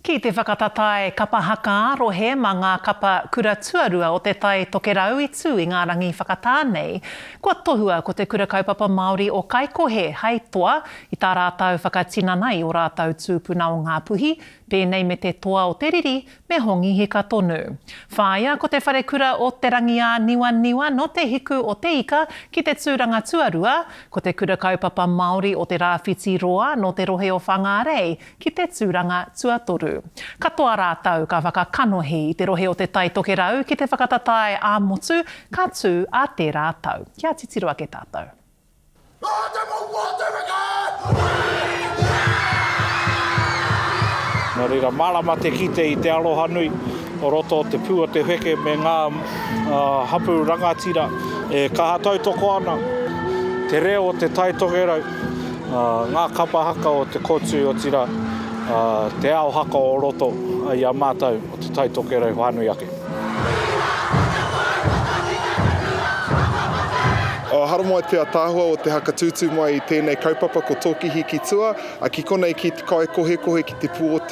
Ki te whakatatae kapa haka ā-rohe mā ngā kapa kura tuarua o te Tai Tokerau i tū i ngā rangi whakatā nei, kua tohua ko Te Kura Kaupapa Māori o Kaikohe hei toa i tā rātau whakatinana i ō rātau tūpuna o Ngāpuhi, pēnei me te toa o te riri me Hongi Hika tonu. Whāia ko Te Wharekura o Te Rangiāniwaniwa nō Te Hiku o Te Ika ki te tūranga tuarua, ko Te Kura Kaupapa Māori o Te Rāwhiti Roa nō te rohe o Whangārei ki te tūranga tuatoru. Katoa rātou ka whakakanohi i te rohe o Te Tai Tokerau ki te whakatatae ā-motu ka tū ā tērā tau. Kia titiro ake tātou. Nō reira, mārama te kite i te arohanui o roto o te pū o te wheke me ngā hapū rangatira e kaha tautoko ana te reo o Te Tai Tokerau. Ngā kapa haka o te kōtui, otirā, te ao haka o roto i a mātou o Te Tai Tokerau whānui ake. Haramai te ataahua o te haka tūtū mai i tēnei kaupapa ko Tōkihi ki tua, ki konei ki te kai kohekohe ki te pū o te.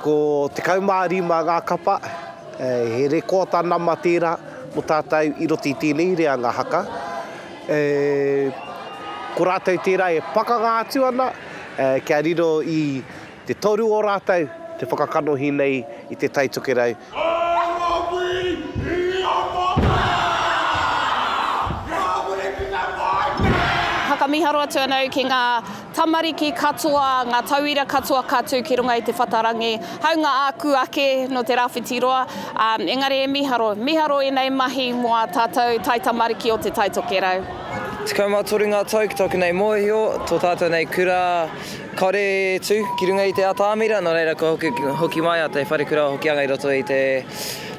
Ko 15 ngā kapa, he rekōta nama tērā mō tātou i roto i tēnei reanga haka. Ko rātou tērā e pakanga atu ana kia riro i te toru o rātou te whakakanohi nei i Te Tai Tokerau Whakamiharo atu ana au ki ngā tamariki katoa, ngā tauira katoa ka tū ki runga i te whatarangi, hāunga āku ake nō te rāwhiti roa, ā, engari e miharo, miharo ēnei mahi mō ā tātou taitamariki o Te Taitokerau. Tekau mā toru ngā tau ki tōku nei mōhio, tō tātou nei kura. Kāore e tū ki runga i te atamira, nō reira kua hoki mai a Te Wharekura o Hokianga i roto i te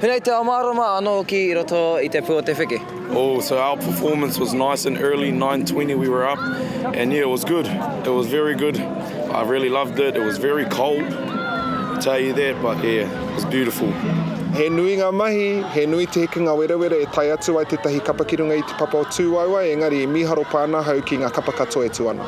Huna i te Ao Mārama anō hoki i roto i te pū o te wheke. Oh so our performance was nice and early, nine twenty we were up and yeah it was good, it was very good, I really loved it, it was very cold, I tell you that but yeah it was beautiful. He nui ngā mahi, he nui te hekenga werawera e tae atu ai tētahi kapa ki runga i te papa o Tūauae engari i mīharo pānāhau ki ngā kapa katoa e tū ana.